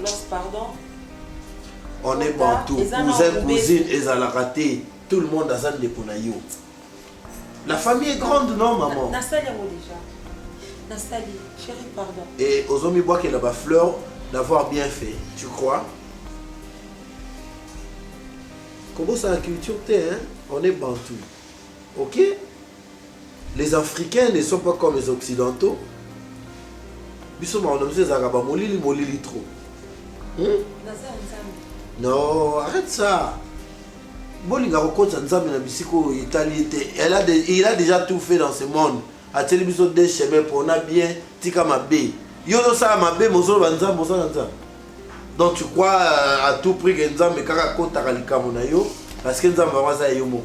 Los pardon. On est bantou, cousin, cousine, ezalaka te. Tout le monde aza ndeko na yo. La famille est grande, non, maman Nasali yango déjà. Nasali, chérie, pardon. Et Ozomi Bois qui est là-bas, fleur, d'avoir bien fait, tu crois Comment ça, la culture, t'es, hein On est bantou. Ok Les africains ne sont pas comme les occidentaux. Biso mawa na biso ezalaka ba molili molili trop. Hmm? Non, arrête ça. bolinga kokotisa nzambe na bisika oyo etali ye te il a déjà tout fait dans ce monde atieli biso de chemin pona bien tika mabe yo ozosala mabe mozoloba nzambe osala nzambe donc tu crois euh, à tout prix ke nzambe kaka akotaka likambo na yo parce que nzambe yango aza ya yo moko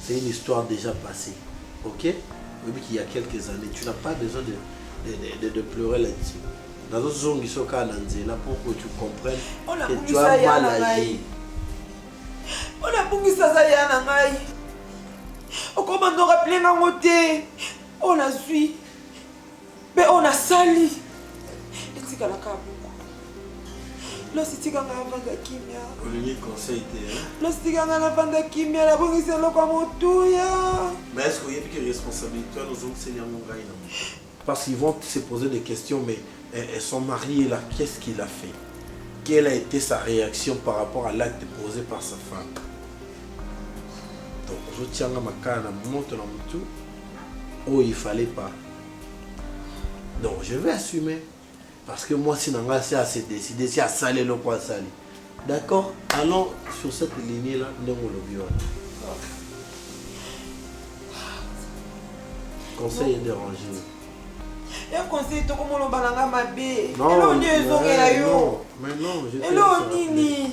C'est une histoire dejà passée. Ok Oyebi qu'il y a quelques années, tu n'as pas besoin de, de, de, de, de pleurer là-dessus. nazozongisa okaa na nzela pour que tu comprennes que tu as mal agi mpo nabungisa aza ya na ngai okoma ndoraple nango te oyo nazwi Mpe oyo nasali etikala kaka bongo. Losi tika ngai navanda kimia. Olingi conseil te hein? Losi tika ngai navanda kimia nabongisi eloko ya motuya. Mais est-ce que oyebi ke responsabilité wana ozongiseli yango ngai na Parce qu'ils vont se poser des questions mais eh, eh, son mari est là, qu'est-ce qu'il a fait Quelle a été sa réaction par rapport à l'acte posé par sa femme Donc ozotianga makala na moto na motu oyo il fallait pas donc je vais assumer parce que moi si nanga si assez décidé si asali eloko asali d'accord allons sur cette lignée là ndenge olobi wana conseil édérangé ya conseil tokomolobana nga mabe eloo nde ezongela yo eloo nini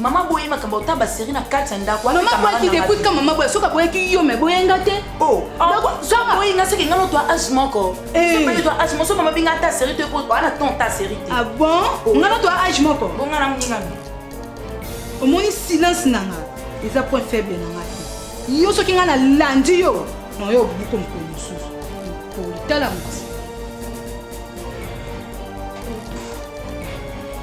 mama boye makambo ota baserie na kati ya ndako mama boyaki te kutka mama boye soki aboyaki yo me boye nga te oh, ah, boye nga soki nga notwa age moko eh. twa age moso mama binga ata serie te po ana ton ta serie te ah bon oh. nga notwa age moko bonga na moninga omoni silence na nga eza point faible na nga te yo soki nga nalandi yo na yo obuko mokolo mosusu politala mosi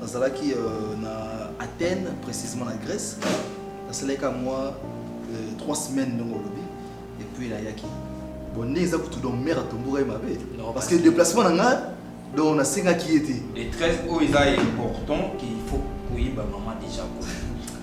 Nazalaki euh, na Athènes, précisément na Grèce. Nasalaki ka mwa euh, trois semaines ndenge olobi et puis nayaki bonne eza kutu donc mère atombokaki mabe Non, parce que parce- déplacement na nga donc nasengaki ye te Les 13 oyo eza important qu'il faut koyeba maman déjà ko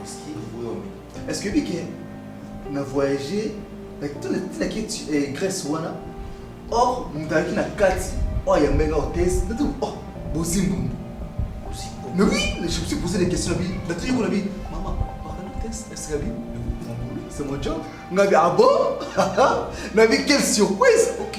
Whisky oboyomi. Est-ce que bike na voyager na tuna tina ki eh, Grèce wana or moto ayaki na kati oyo ayamba nga hotesse nati oh bozimbundu mais oui je me suis posé des questions bi nati yeko na bi mama pardon hotesse est-ce que bi c'est mon job nga bi ah bon na bi quelle surprise ok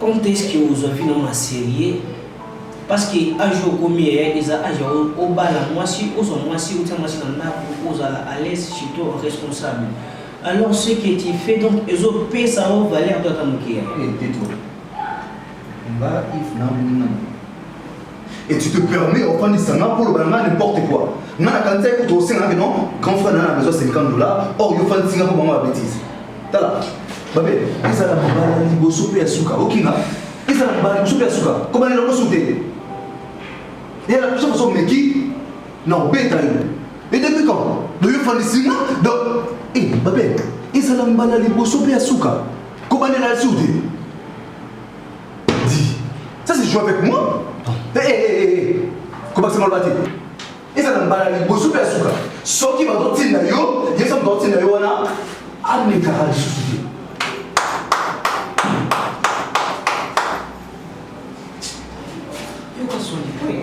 Quand est-ce que ozwa vie na ngo na serieux? Parce que age oyo okomi eh eza age ya obala mwasi, ozwa mwasi, otia mwasi na ndaku, ozala à l'aise chez toi, responsable. Alors ce que tu fais donc ezo pesa yo valeur to ata mukie te. Nga if na muninga na nga. et tu te permets ofandisa nga mpo olobana nga n'importe quoi nga nakanisaki kutu osengaka non grand frère nana besoin 50 dollar or yo ofandisi nga mpo bango babetise tala babe ezala mobala liboso mpe ya suka okinga ezala mobala liboso mpe ya suka kobanela lokosu te yala biso moso omeki na obeta yo edepi kan doyo ofandisi nga do e babe ezala mbala liboso mpe ya suka kobanela ya suka te Dis, ça c'est jouer avec moi Hé, hé, hé, hé Comment c'est malbâté ezala mbala liboso mpe ya suka soki bazotinda yo ye soki bazotinda yo wana amekaka lisusu te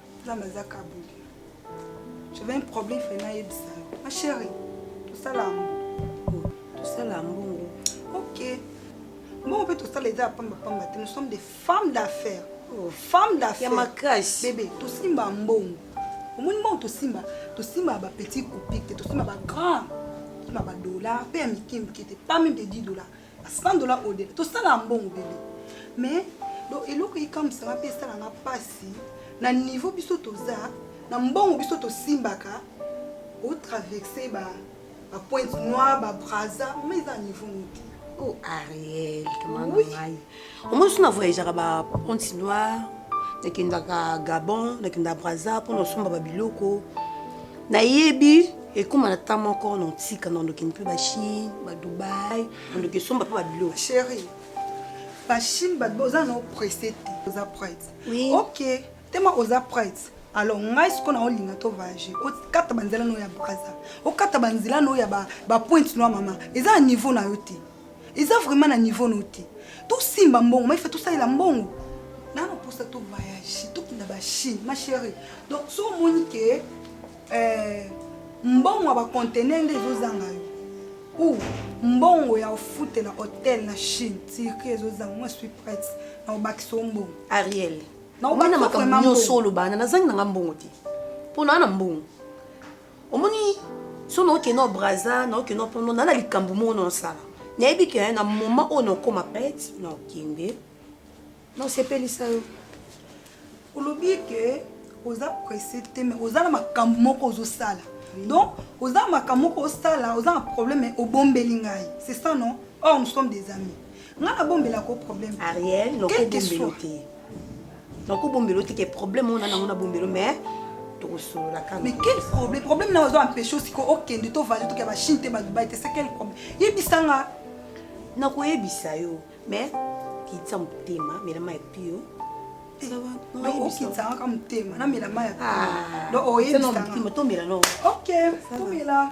nzambe aza kabuli j'avais un problème fai nayebisa yo ma chéri tosala mbongo tosala mbongo ok mbongo mpe tosala eza ya pamba pamba te nous sommes des femmes d'affaires oh. femme d'affaires ya makasi bebe tosimba mbongo omoni mbongo tosimba tosimba ba petit copique te tosimba ba grand tosimba ba dollar mpe ya mike mike te pas même de 10 dollars Sandola Odele tosala mbongo bebe mais donc eloko ekamwisa nga mpe esala nga mpasi na niveau biso toza na mbongo biso tosimbaka otraverse ba ba pointe noire ba braza ma eza niveau nini te oh ariel oui. omoni so na voyageaka ba ponti noire nakendaka gabon nakendaka braza mpo na osomba babiloko nayebi ekóma na temps moko na otika na ondoki mpe bachine badubai ondoki esomba mpe babiloko chéri bachine badubai oza na opresse te oza prête ok tema oza prête alors ngai sikoyo na olinga to voyage okata banzela na oyo ya braza okata banzela na oyo ya bapointe noa mama eza na niveau na yo te eza vraiment na niveau no te tosimba mbongo maifa tosalela mbongo nana posa to voyage tokenda bachine ma chérie donc so omoni ke euh, mbongo ya bacontener nde ezozanga yo ou mbongo ya ofutela hotel na chine tirki ezozanga moi suis prête na obakisa o mbongo ariel naobana makambo nyonso olobana nazangi nanga mbongo te mpo naa na mbongo omoni so naoke na braza naoke na pono na na likambo moko na osala nayebi ke na moma oyo nakoma pete na okende na osepelisa yo olobi ke oza presse te mais oza na makambo moko ozosala donc oza na makambo moko osala oza na problème obombeli ngai c'est ça non or nous sommes des amis ngai nabombelaka o problème ariel nokobombelo te nako bombela yo te ke problème oyo na nango na bombela yo mais tokosolola kaka mais quel problème problème na ozo empêche osiko okende to voyage toke ba Chine te ba Dubaï te c'est quel problème yebisa nga nakoyebisa yo mais kitisa motema mela mayi pio okitisa kaka motema namela mayi pio donc oyebisa nga tomela no ok tomela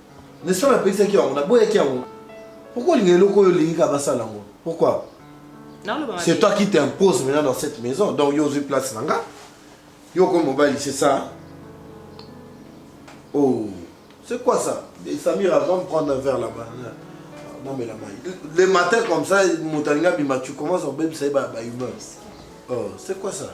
N'est-ce pas napekisaki yango, naboyaki yango. Pourquoi olinga eloko oyo olingi kaka basala yango? Pourquoi? C'est toi qui t'impose maintenant dans cette maison. Donc yo ozwi place na nga. Yo okomi mobali, c'est ça? Oh, c'est quoi ça? Et Samir avant de prendre un verre là-bas. Non mais la maille. Le matin comme ça, moto alinga bima, tu commences à obebisa ye ba ba humeur. Oh, c'est quoi ça?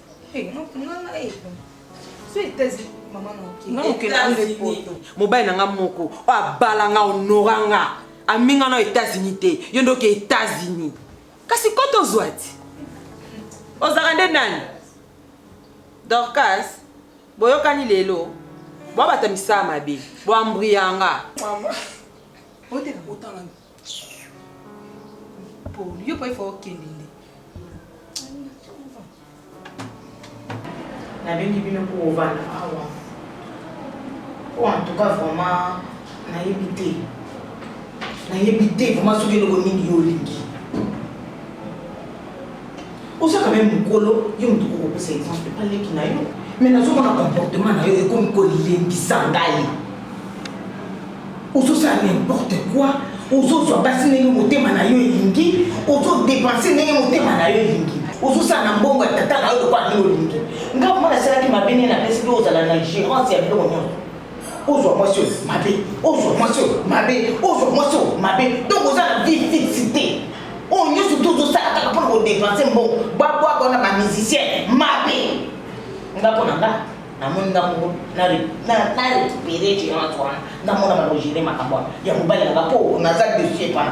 mobali na nga moko oyo abala nga onora nga aminga na etats-unis te yo ndoki etats-unis kasi ko tozwa ti ozalaka nde nani dorcas boyokani lelo bwabata misala mabe bwambria nga Paul, yo pa ifo okende nde. Nabengi bino kovanda awa. Po en tout cas vraiment nayebi te. Nayebi te vraiment soki eloko nini yo olingi. oza quand même mokolo yo moto kokopesa exemple epa leki na yo mais nazomona comportement na yo ekomi kolembisa ngai ozosala n'importe quoi ozozwa basi ndenge motema na yo elingi ozodepense ndenge motema na yo elingi ozosala na mbongo ya tata na yo lokola nini olingi ngai mpo nasalaki mabe nini napesi mpe ozala na gérance ya biloko nyonso ozwa mwasi oyo mabe ozwa mwasi oyo mabe ozwa mwasi oyo mabe donc oza na vie fixe te oyo nyonso tu ozosala kaka mpona kodepense mbongo babwaka wana bamusicien mabe nga mpo na nga namoni nga moko na récupéré gérance wana namona balogere makambo wana ya mobali nanga mpo naza dessus epana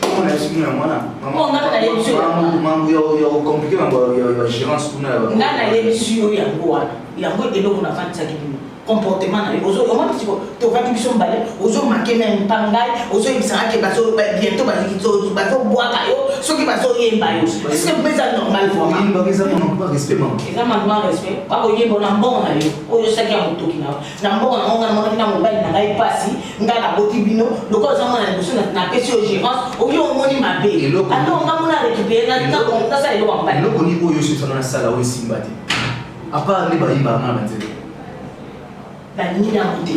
komona ye soki na mwana mambo ya komplike mambo ya gérance kuna nga nayebisi yo yango wana yango eloko nafandisaki bino comportement na yo omoni siko tovandi biso mbale ozomake meme mpa ngai ozoyebisaka ke biento bazobwaka yo soki bazoyemba yo eske mpeza normal vraimenteza manquement respect bakoyemba na mbongo na yo oyo osaki ya motoki na yo na mboka na ngai namonaki na mobali na ngai mpasi ngai naboti bino lokola oza mwana liboso napesi yo gérance oyo omoni mabe ata onga mona récupéré nasala eloko ya mobali eloko nini oyo ososana nasala oyo esimba te apart nde bayimba mwana na nzela balingi nango te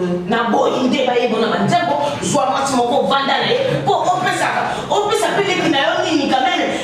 euh, naboyi nde bayembo na banzembo zwa mwasi moko vanda na ye mpo opesaka opesa mpe leki na yo nini kamene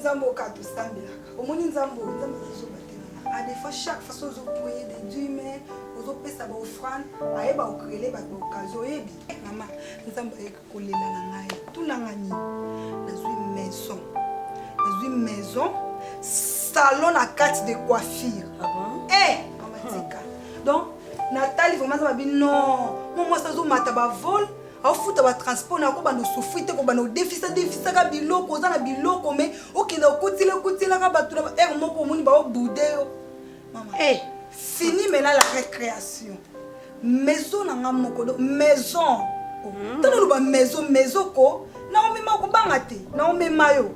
nzambe okaa tosambelaka omoni nzambe oyo nzambe azozoba te a des fois chaque façon ozopriye de dieu mais ozopesa baofrande ayeba okrele bato baokazi oyebi mama nzambe ayeki kolela na ngai tunanga nini nazwi maison nazwi maison salon na kati de coiffure ah bon? hey, eh, mama tika donc natali vraimen aza babi non mo mwasi azomata bavole afuta ba transport na kobanda osufri te kobanda odefisa defisaka biloko oza na biloko me okenda okutila okutilaka bato na ba heure moko omoni baoboude yo mama hey. Eh. fini mena la récréation maison na nga moko do maison mm. tala oloba maison maison ko naomema okobanga te naomema yo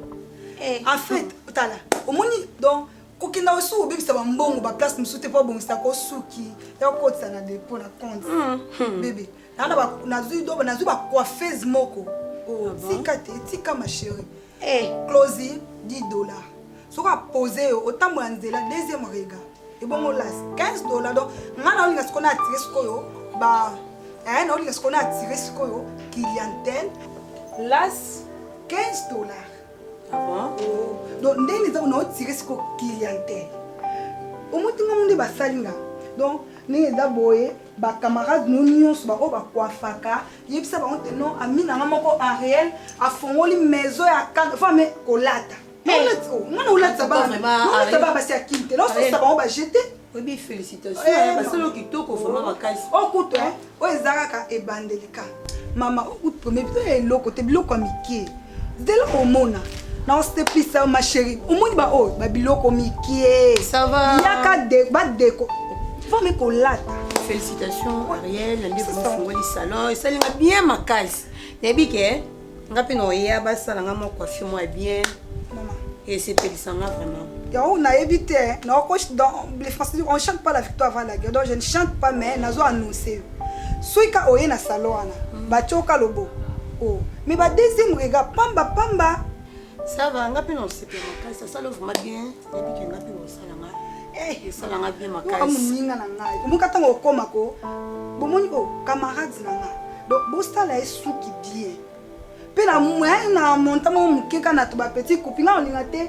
hey. Eh. en fait tala omoni donc kokenda osi obebisa bambongo baplace mosusu te mpo abongisa kosuki ya kokotisa na depo na compte mm. bebe mm. Nana ba nazui dobo nazui ba coiffeuse moko. Oh, ah tika te, tika ma chérie. Eh, Closy 10 dollars. Soka poser yo otambola nzela deuxième regard. Ebongo las 15 dollars donc ngana olinga sikona attirer sikoyo ba eh na olinga sikona attirer sikoyo clientèle las 15 dollars. Ah bon? Oh, donc ndenge eza na ottirer sikoyo clientèle. Omotinga munde basali nga. Donc ndenge eza boye Ba camarade no nionso ba oyo ba coiffaka yebisa bango te non ami na nga moko Ariel afongoli maison ya kanda faut ame kolata mwana olatisa bana basi ya kin te na osalisa bango ba jete oyebi félicitation eh, basolo kitoko vraiment makasi okutu oh, oh, eh, oyo oh, eza kaka ebandeli ka mama okutu premier bito ya eloko te biloko ya mike Dès lors omona naosepisa yo ma chérie omoni baoyo babiloko mikie Ça va. yaka de- badeko fami kolata félicitations ariel na ndeko mofungoli salon esali nga bien makasi nayebi ke nga mpe naoya basala nga mwa coiffure mwa bien mama esepelisa nga vraiment yango nayebi te naoko dans les français on chante pas la victoire avant la guerre donc je ne chante pas mais nazo annonce Suika oye na salon wana ba tioka lobo oh mais ba deuxième regard pamba pamba ça va nga pe na osepela makasi asala ovuma bien nayebi ke nga pe osala nga eh. esala nga bien makasi moninga na ngai omoka ntango okoma ko bomoni o oh, camarade na nga donc bosala ye suki bien mpe na moyen na monta moko moke kaka na to bapetit kupi nga olinga te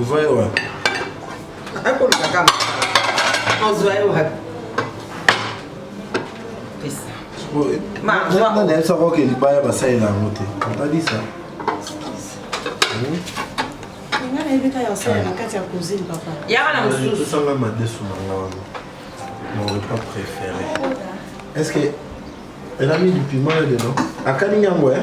ozwa ye wapi akoluka kama ozwa ye wapi nayebisa koke libaya basalela yango te otalisa yaka na mosususanga madesu na nga wana mon repas préféré est ce que elami du piment ya lelo akani yango e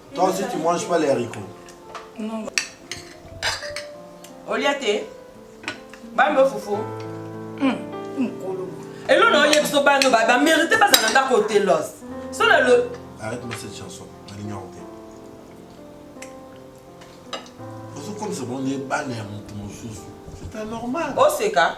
Toi aussi tu manges pas les haricots Non. Olia te bambe fufu hmm, mokolo elo na oyebi so bano bamérite bazala ndako otelos so na lo arrête moi cette chanson nalingi yango te ozokomisa bango nde bana ya moto mosusu c'est anormal oseka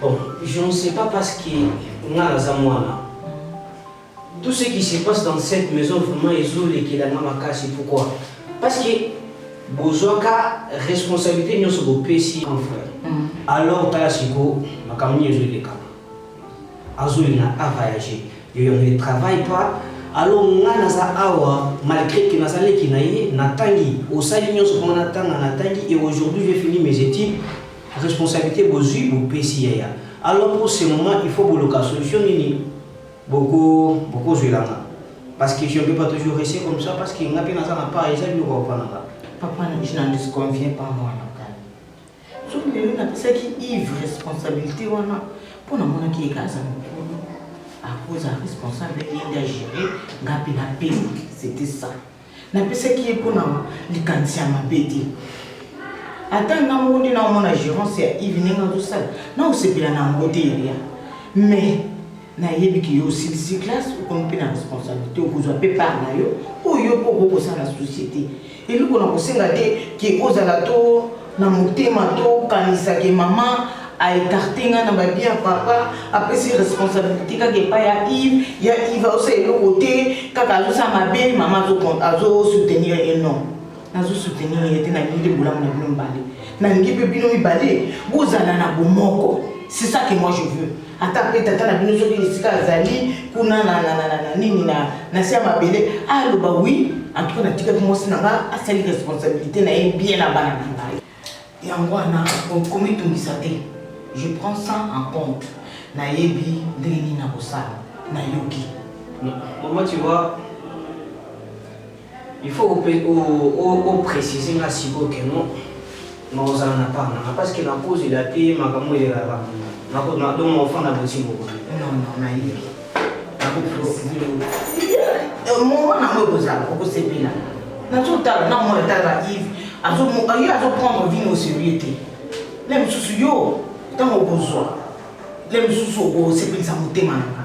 Bon, je ne sais pas parce que nga naza mwana. Tout ce qui se passe dans cette maison vraiment ezolekela nga makasi. Pourquoi? Parce que bozwaka responsabilité nyonso bopesi grand frère. Alors tala sikoyo makambo nini ezolekama. Azolinga a voyager. Yo yango ne travaille pas. Alors nga naza awa malgré que naza leki na ye natangi osali nyonso mpo nga natanga natangi et aujourd'hui j'ai fini mes études Responsabilite bozui bopesi yaya alors pour ce moment il faut boloka solution nini boko bokozwela nga parce que je ne peux pas toujours rester comme ça parce que nga mpe naza na part eza biloko papa na nga papa na je n'en disconviens pas mwana kani soki lelo napesaki ive responsabilité wana mpo namonaki yeka aza mokolo akoza responsable yende agere nga mpe na pema c'était ça Napesaki ye mpo na likanisi ya mabe te. Ata nga moko nde naomona gerance ya Yves ndenge azosala, naosepela na yango te Elia. Mais nayebi ke yo osilisi classe, okomi mpe na responsabilité, okozwa mpe part na yo oyo yo mpe okoki kosala société. Eloko nakosenga te ke ozala to Na motema to kanisa ke mama a ecarte nga na ba vie ya papa, apesi responsabilite kaka epai ya Yves, ya Yves azo sala eloko te, kaka azo sala mabe, mama azo azo soutenir ye non. Nazo soutenir ye te, nalingi nde bolamu na bino mibale. Nalingi pe bino mibale bozala na bomoko. C'est ça que moi je veux. ata mpe tata na bino soki esika azali kuna na nini na se ya mabele aloba wi antuka natikaki mwasi na nga asali responsabilité na ye bien na bana na ngai yango wana komitungisa te je prends ça en compte nayebi ndenge nini nakosala nayoki mama tu vois Il faut ope o o o preciser nga sikoyo que non na ozala na part nanga parce que na kozela te makambo elelaka bongo na ko na donc ofanda boti moko Non, non, nayebi. Nakopresize yo. Eh, Moment nango ekozala, okosepela. Nazotala na mwana tala Yves, azo mo- yo azoprendre vie au sérieux te. Le mosusu yo, ntango okozwa, le mosusu okosepelisa motema na nga.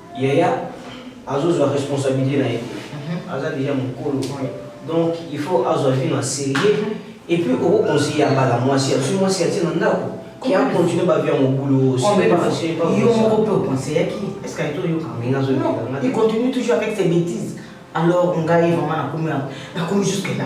Yaya azo zwa responsabilite na ye te. Aza dejà mukolo. Donc il faut azwa vie na serieux et puis oko conseiller ya bala mwasi azwi mwasi atie na ndako qui a continuer ba vie ya mobulu aussi. Yo moko pe o conseillaki est ce que aye toyoka? Mais nazo yoka nga te. Il continue toujours avec ses betises alors ngai vraiment nakomi nakomi jusque là.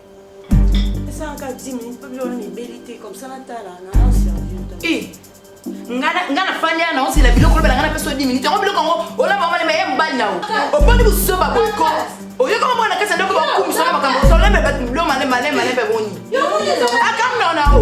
Eh, nga na fani ana osila biloko olobela nga na peso 10 minutes yango biloko yango olaba omana meye mobali na yo oponi buzoba boyeko oyoki omoko na kati ya ndoko bakumisa na makambo osoleme bato biloko male male male mpe boni akamna ona o